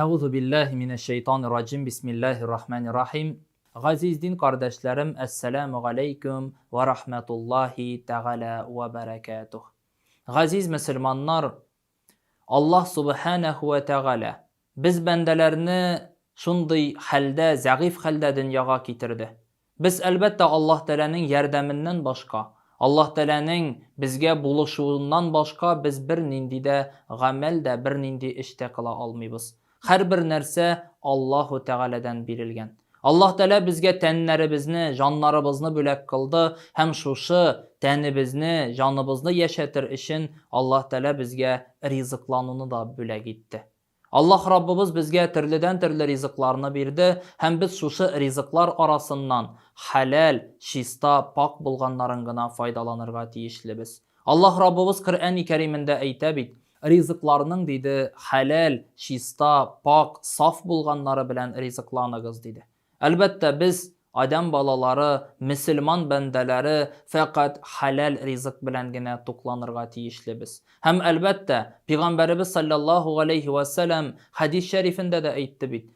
Әгузу биллаһи минәш шәйтанир раҗим Бисмиллаһир рахманир рахим Газиз дин кардәшләрем Әссәләмү галәйкүм вә рахмәтуллаһи тәгалә вә бәрәкәтүһ Газиз мөселманнар Аллаһ Субханәһү вә тәгалә без бәндәләрне шундый хәлдә, зәгыйфь хәлдә дөньяга китерде. Без, әлбәттә, Аллаһ Тәгаләнең ярдәменнән башка, Аллаһ Тәгаләнең безгә булышуыннан башка без бернинди дә гамәл дә, бернинди эш тә кыла алмыйбыз. Һәрбер нәрсә Аллаһу Тәгаләдән бирелгән. Аллаһ Тәгалә безгә тәннәребезне, җаннарыбызны бүләк кылды һәм шушы тәнебезне, җаныбызны яшәтер өчен Аллаһ Тәгалә безгә ризыклануны да бүләк итте. Аллаһ Раббыбыз безгә төрледән-төрле ризыкларны бирде һәм без шушы ризыклар арасыннан хәләл, чиста, пакь булганнарын гына файдаланырга тиешлебез. Аллаһ Раббыбыз Коръәни Кәримендә әйтә бит, Ризыкларның, диде, хәләл, чиста, пакь, саф булганнары белән ризыкланыгыз, диде. Әлбәттә, без, адәм балалары, мөселман бәндәләре, фәкать хәләл ризык белән генә тукланырга тиешлебез. Һәм, әлбәттә, Пигамбәребез салләллаһу галәйһи вә сәлам хәдис шәрифендә дә әйтте бит,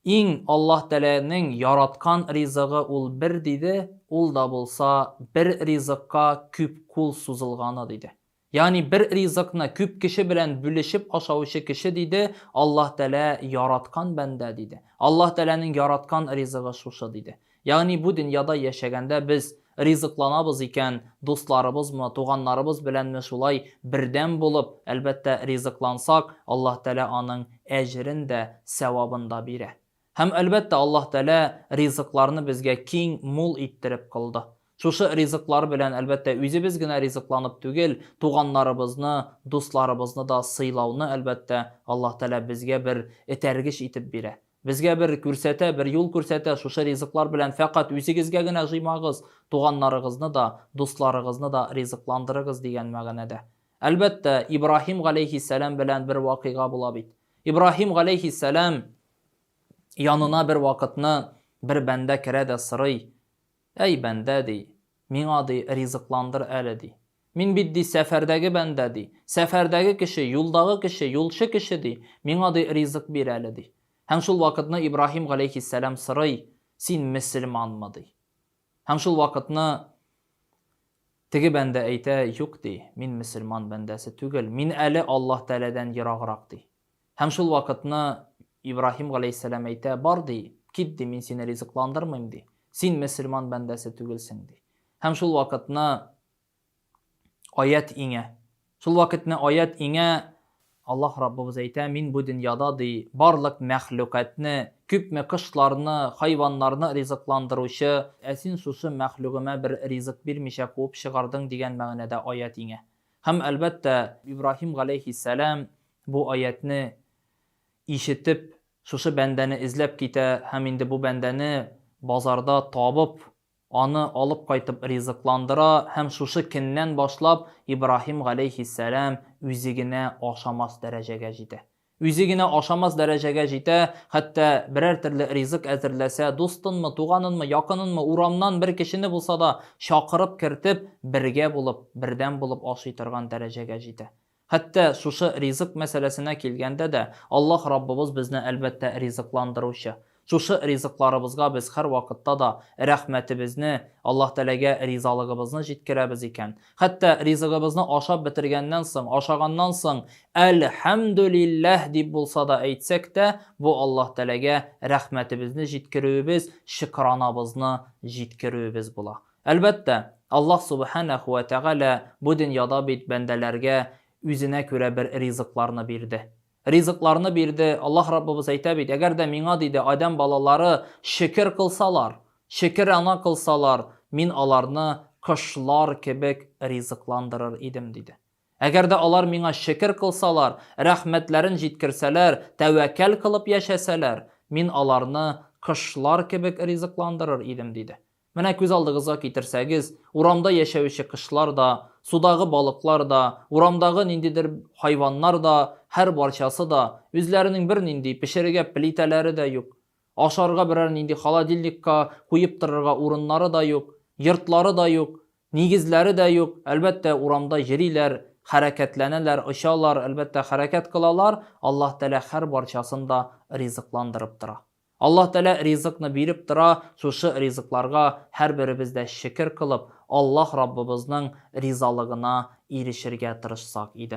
Иң Аллаһ Тәләнең яраткан ризыгы ул бер, диде, ул да булса, бер ризыкка күп кул сузылганы, диде. Ягъни бер ризыкны күп кеше белән бүлешеп ашаучы кеше диде, Аллаһ Тәгалә яраткан бәндә диде. Аллаһ Тәгаләнең яраткан ризыгы шушы диде. Ягъни бу дөньяда яшәгәндә без ризыкланабыз икән, дусларыбызмы, туганнарыбыз беләнме шулай бердәм булып, әлбәттә, ризыклансак, Аллаһ Тәгалә аның әҗерен дә, сәвабын да бирә. Һәм, әлбәттә, Аллаһ Тәгалә ризыкларны безгә киң, мул иттереп кылды. Шушы ризыклар белән, әлбәттә, үзебез генә ризыкланып түгел, туганнарыбызны, дусларыбызны да сыйлауны, әлбәттә, Аллаһ Тәгалә безгә бер этәргеч итеп бирә. Безгә бер күрсәтә, бер юл күрсәтә, шушы ризыклар белән фәкать үзегезгә генә җыймагыз, туганнарыгызны да, дусларыгызны да ризыкландырыгыз, дигән мәгънәдә. Әлбәттә, Ибраһим галәйһиссәлам белән бер вакыйга була бит. Ибраһим галәйһиссәлам Янына бервакытны бер бәндә керә дә сорый, Әй, бәндә, ди, миңа, ди, ризыкландыр әле, ди. Мин бит, ди, сәфәрдәге бәндә, ди. Сәфәрдәге кеше, юлдагы кеше, юлчы кеше, ди. Миңа, ди, ризык бир әле, ди. Һәм шул вакытны Ибраһим галәйһиссәлам сорый, Син мөселманмы, ди. Һәм шул вакытны теге бәндә әйтә, Юк, ди, мин мөселман бәндәсе түгел, мин әле Аллаһ Тәгаләдән ераграк, ди. Һәм шул вакытны Ибраһим галәйһиссәлам әйтә, Бар, ди, кит, ди, мин сине ризыкландырмыйм, ди. Син мөселман бәндәсе түгелсең, ди. Һәм шул вакытны аять иңә. Шул вакытны аять иңә, Аллаһ Раббыбыз әйтә, Мин бу дөньяда, ди, барлык мәхлукатьне, күпме кошларны, хайваннарны ризыкландыручы, ә син шушы мәхлугыма бер ризык бирмичә куып чыгардың, дигән мәгънәдә аять иңә. Һәм, әлбәттә, Ибраһим галәйһиссәлам бу аятьне ишетеп, шушы бәндәне эзләп китә һәм инде бу бәндәне базарда табып, аны алып кайтып ризыкландыра һәм шушы көннән башлап Ибраһим галәйһиссәлам үзе генә ашамас дәрәҗәгә җитә. Үзе генә ашамас дәрәҗәгә җитә, хәтта берәр төрле ризык әзерләсә, дустынмы, туганынмы, якынынмы, урамнан бер кешене булса да чакырып кертеп, бергә булып, бердәм булып ашый торган дәрәҗәгә җитә. Хәтта шушы ризык мәсьәләсенә килгәндә дә, Аллаһ Раббыбыз безне, әлбәттә, ризыкландыручы. Шушы ризыкларыбызга без һәрвакытта да рәхмәтебезне, Аллаһ Тәгаләгә ризалыгыбызны җиткерәбез икән, хәтта ризыгыбызны ашап бетергәннән соң, ашаганнан соң, Әлхәмдүлилләһ дип булса да әйтсәк тә, бу Аллаһ Тәгаләгә рәхмәтебезне җиткерүебез, шөкранабызны җиткерүебез була. Әлбәттә, Аллаһ Сүбхәнәһү вә Тәгалә бу дөньяда бит бәндәләргә үзенә күрә бер ризыкларны бирде. Ризыкларны бирде. Аллаһ Раббыбыз әйтә бит, Әгәр дә Миңа, диде, адәм балалары шөкер кылсалар, шөкер ана кылсалар, Мин аларны кошлар кебек ризыкландырыр идем, диде. Әгәр дә алар Миңа шөкер кылсалар, рәхмәтләрен җиткерсәләр, тәвәкәл кылып яшәсәләр, Мин аларны кошлар кебек ризыкландырыр идем, диде. Менә күз алдыгызга китерсәгез, урамда яшәүче кошлар да, судагы балыклар да, урамдагы ниндидер хайваннар да, һәрбарчасы да, үзләренең бернинди пешерергә плитәләре дә юк, ашарга берәр нинди холодильникка куеп торырга урыннары да юк, йортлары да юк, нигезләре дә юк, әлбәттә, урамда йөриләр, хәрәкәтләнәләр, очалар, әлбәттә, хәрәкәт кылалар, Аллаһ Тәгалә һәрбарчасын да ризыкландырып тора. Аллаһ Тәгалә ризыкны биреп тора, шушы ризыкларга һәрберебез дә шөкер кылып, Аллаһ Раббыбызның ризалыгына ирешергә тырышсак иде.